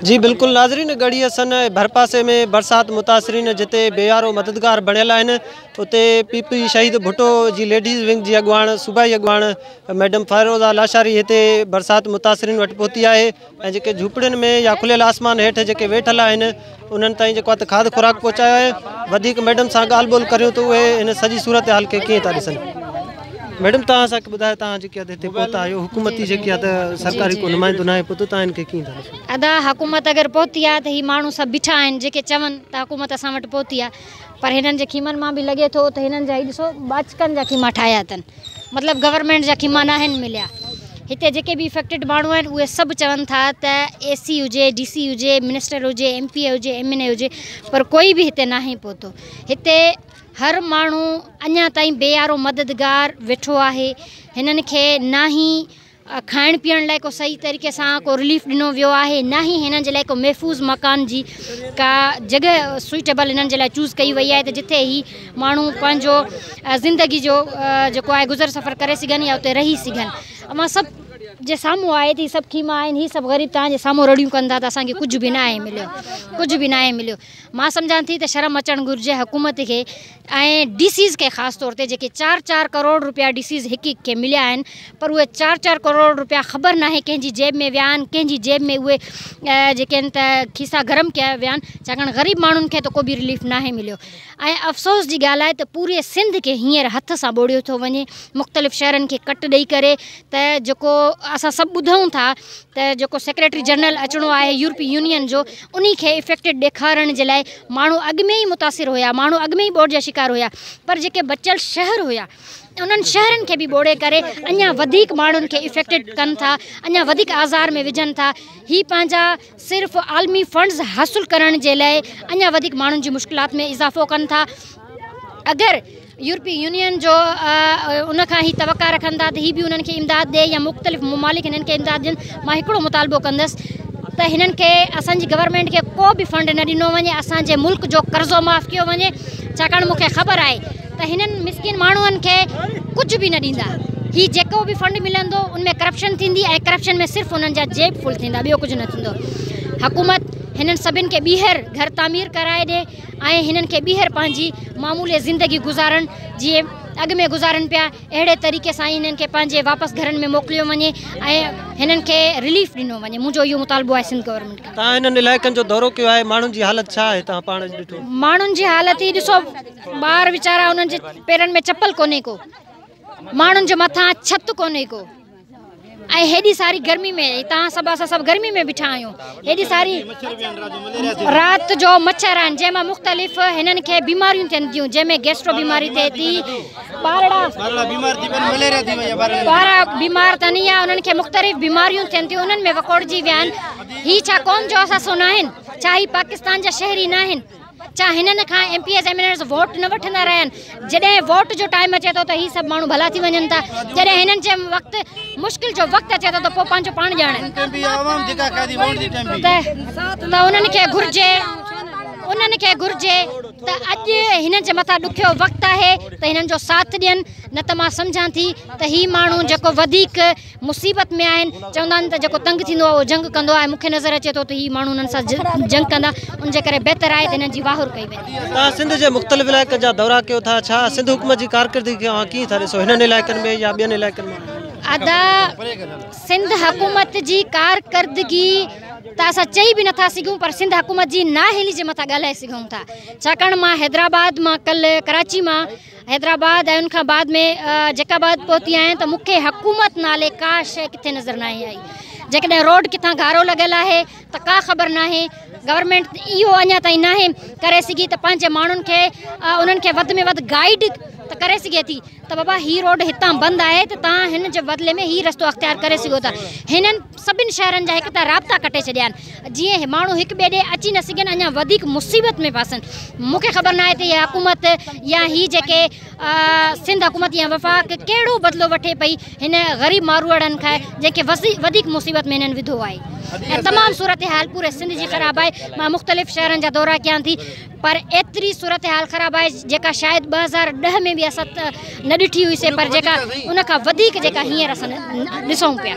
جي بلڪل ناظرين ڳڙهي حسن ۽ ڀرپاسي ۾ برسات متاثرين جتي بيارو مددگار بڻيل آهن اتي پي پي شهيد ڀٽو جي ليڊيز ونگ جي اڳواڻ صوبائي اڳواڻ ميڊم فائروزا لاشاري هتي برسات متاثرين وٽ پهتي آهي ۽ جيڪي جهوپڙين ۾ يا کليل آسمان هيٺ جيڪي ويٺل آهن انهن تائين جيڪو هٿ کاڌ خوراڪ پهچايو آهي وڌيڪ ميڊم سان ڳالهه ٻولهه ڪريون ته اهي ان سڄي صورتحال کي ڪيئن ٿا ڏسن ميڊم توهان اسان کي ٻڌايو توهان جيڪي هتي پهتا آهيو حڪومتي جيڪي هتي سرڪاري ڪو نمائندو ناهي پهتو توهان هن کي ڪيئن ٿا ڏسو ادا حڪومت اگر پهتي آهي ته هي ماڻهو سڀ بيٺا آهن جيڪي چون ته حڪومت اسان وٽ پهتي آهي پر هنن جي خيمن مان به لڳي ٿو ته هنن جا هي ڏسو ٻاچڪن جا خيما ٺاهيا اٿن مطلب گورنمينٽ جا خيما ناهن مليا هتي جيڪي به افيڪٽيڊ ماڻهو آهن اهي سڀ چون ٿا ته اي سي هجي ڊي سي هجي منسٽر هجي ايم پي اي هجي ايم اين اي هجي پر ڪوئي به هتي ناهي پهتو هتي هر ماڻهو اڃا تائين بي آرو مددگار ويٺو آهي هنن کي ناهي کائڻ پيئڻ لاء ڪو صحيح طريقي سان ڪو رليف ڏنو ويو آهي نه هي هنن جي لاء ڪو محفوظ مڪان جي ڪا جڳهه سوئيٽيبل هنن جي لاء چوز ڪئي وئي آهي ته جتي هي ماڻهو پنهنجو زندگي جو جيڪو آهي گذر سفر ڪري سگهن يا اتي رهي سگهن اوهان سڀ جي سامهون آهي ته هي سڀ خيما آهن هي سڀ غريب توهان جي سامهون رڙيون ڪن ٿا ته اسان کي ڪجهه به ناهي مليو ڪجهه به ناهي مليو مان سمجهان ٿي ته شرم اچڻ گهرجي حڪومت کي ۽ ڊي سيز کي خاص طور تي جيڪي چار چار ڪروڙ رپيا ڊي سيز هڪ هڪ کي مليا آهن پر اهي چار چار ڪروڙ رپيا خبر ناهي ڪنهن جي جيب ۾ ويا آهن ڪنهن جي جيب ۾ اهي جيڪي آهن ته کيسا گرم ڪيا ويا آهن ڇاڪاڻ غريب ماڻهن کي ته ڪو به رليف ناهي مليو ۽ افسوس جي ڳالهه آهي ته پوري سنڌ کي هينئر هٿ سان ٻوڙيو ٿو وڃي مختلف شهرن کي ڪٽ ڏئي ڪري ته جيڪو اسان سڀ ٻڌون ٿا ته جيڪو سيڪريٽري جنرل اچڻو آهي يورپي يونين جو انهي کي افيڪٽيڊ ڏيکارڻ جي لاء ماڻهو اڳ ۾ ئي متاثر هيا ماڻهو اڳ ۾ ئي ٻوڏ جا شڪار هيا پر جيڪي بچيل شهر هيا انهن شهرن کي به ٻوڙي ڪري اڃا وڌيڪ ماڻهن کي افيڪٽيڊ ڪن ٿا اڃا وڌيڪ آزار ۾ وجهن ٿا هي پنهنجا صرف عالمي فنڊز حاصل ڪرڻ جي لاء اڃا وڌيڪ ماڻهن جي مشڪلات ۾ اضافو ڪن ٿا اگر يورپي يونين جو ان کان هي توقع رکن ٿا ته هي به انهن کي امداد ڏئي يا مختلف ممالڪ هنن کي امداد ڏين مان هڪڙو مطالبو ڪندس ته هنن کي اسان جي گورنمينٽ کي ڪو به فنڊ نه ڏنو وڃي اسان جي ملڪ جو قرضو معاف ڪيو وڃي ڇاڪاڻ مون کي خبر آهي ته هنن مسڪين ماڻهن کي ڪجهه به نه ڏيندا هي جيڪو به فنڊ ملندو ان ۾ ڪرپشن ٿيندي ۽ ڪرپشن ۾ صرف انهن جا جيب فل ٿيندا ٻيو ڪجهه نه ٿيندو حڪومت هنن سڀن کي ٻيهر گهر تعمير ڪرائي ڏي ۽ هنن کي ٻيهر پنهنجي معمولي زندگي گذارڻ جيئن اڳ ۾ گذارن پيا اهڙي طريقي سان ئي هنن کي پنهنجي واپس گهرن ۾ موڪليو وڃي ۽ هنن کي رليف ڏنو وڃي منهنجو اهو مطالبو آهي سنڌ گورنمينٽ کان. توهان هنن علائقن جو دورو ڪيو آهي ماڻهن جي حالت ڇا آهي توهان پاڻ اڄ ڏٺو. ماڻهن جي حالت هي ڏسو ٻار ويچارا انهن جي پيرن ۾ چپل ڪونهي ڪو ماڻهن جي مٿان ڇت ڪونهي ڪو. ۽ هيڏي ساري گرمي ۾ هتان سڀ اسان سڀ گرمي ۾ بيٺا آهيون هيڏي ساري رات جو مڇر آهن جنهن مان مختلف هنن کي بيماريون ٿين ٿيون جنهن ۾ گيسٽرو بيماري ٿئي ٿي ٻارڙا ٻارا بيمار ٿين يا انهن کي مختلف بيماريون ٿين ٿيون انهن ۾ وڪوڙجي ويا آهن هي ڇا قوم جو اثاثو ناهن ڇا هي پاڪستان جا شهري ناهن ڇا هنن کان MPs MNAs vote نه وٺندا رهيا آهن جڏهن ووٽ جو ٽائيم اچي ٿو ته هي سڀ ماڻهو ڀلا ٿي وڃن ٿا جڏهن هنن جي وقت مشڪل جو وقت اچي ٿو ته پوء پنهنجو پاڻ ڄاڻن ته انهن کي گهرجي انهن کي گهرجي ته اڄ هنن جي مٿان ڏکيو وقت آهي ته هنن جو ساٿ ڏين نه ته مان سمجهان ٿي ته هي ماڻهو جيڪو وڌيڪ مصيبت ۾ آهن چوندا آهن ته جيڪو تنگ ٿيندو آهي اهو جنگ ڪندو آهي مون کي نظر اچي ٿو ته هي ماڻهو انهن سان جنگ ڪندا ان جي ڪري بهتر آهي ته انهن جي واهر ڪئي وڃي. توهان سنڌ جي مختلف علائقن جا دورا ڪيو ٿا ڇا سنڌ حڪومت جي ڪارڪردگي کي اوهان ڪيئن ٿا ڏسو هنن علائقن ۾ يا ٻين علائقن ۾ ادا سنڌ حڪومت جي ڪارڪردگي ته اسان چئي به نٿا سگهون پر سنڌ حڪومت جي نااهلي جي مٿان ڳالهائي سگهون ٿا ڇاڪاڻ مان حيدرآباد مان ڪل ڪراچي مان حيدرآباد ۽ ان کان بعد ۾ جيڪب آباد پهتي آهيان ته مون کي حڪومت نالي ڪا شيء ڪٿي نظر ناهي آئي جيڪڏهن روڊ ڪٿان گارو لڳل آهي ته ڪا خبر ناهي گورنمنٽ اهو اڃا تائين ناهي ڪري سگهي ته پنهنجي ماڻهن کي انهن کي وڌ ۾ وڌ گائيڊ ته ڪري سگهي ٿي ته بابا هي روڊ هتان بند آهي ته تان هن جي بدلي ۾ هي رستو اختيار ڪري سگهو ٿا هنن سڀني شهرن جا هڪ ته رابطا ڪٽي ڇڏيا آهن جيئن هي ماڻهو هڪ ٻئي ڏي اچي نه سگهن اڃا وڌيڪ مصيبت ۾ ڦاسن مون کي خبر ناهي ته هي حڪومت يا هي جيڪي سنڌ حڪومت يا وفاق ڪهڙو بدلو وٺي پئي هن غريب ماروئڙن کان جنهن کي وڌيڪ مصيبت ۾ هنن وڌو آهي ۽ تمام صورتحال پوري سنڌ جي خراب آهي مان مختلف شهرن جا دورا ڪيان ٿي پر ايتري صورتحال خراب آهي جيڪا شايد ٻه هزار ڏهه ۾ به اسان نه ڏٺي هئي سي پر جيڪا ان کان وڌيڪ جيڪا هينئر اسان ڏسون پيا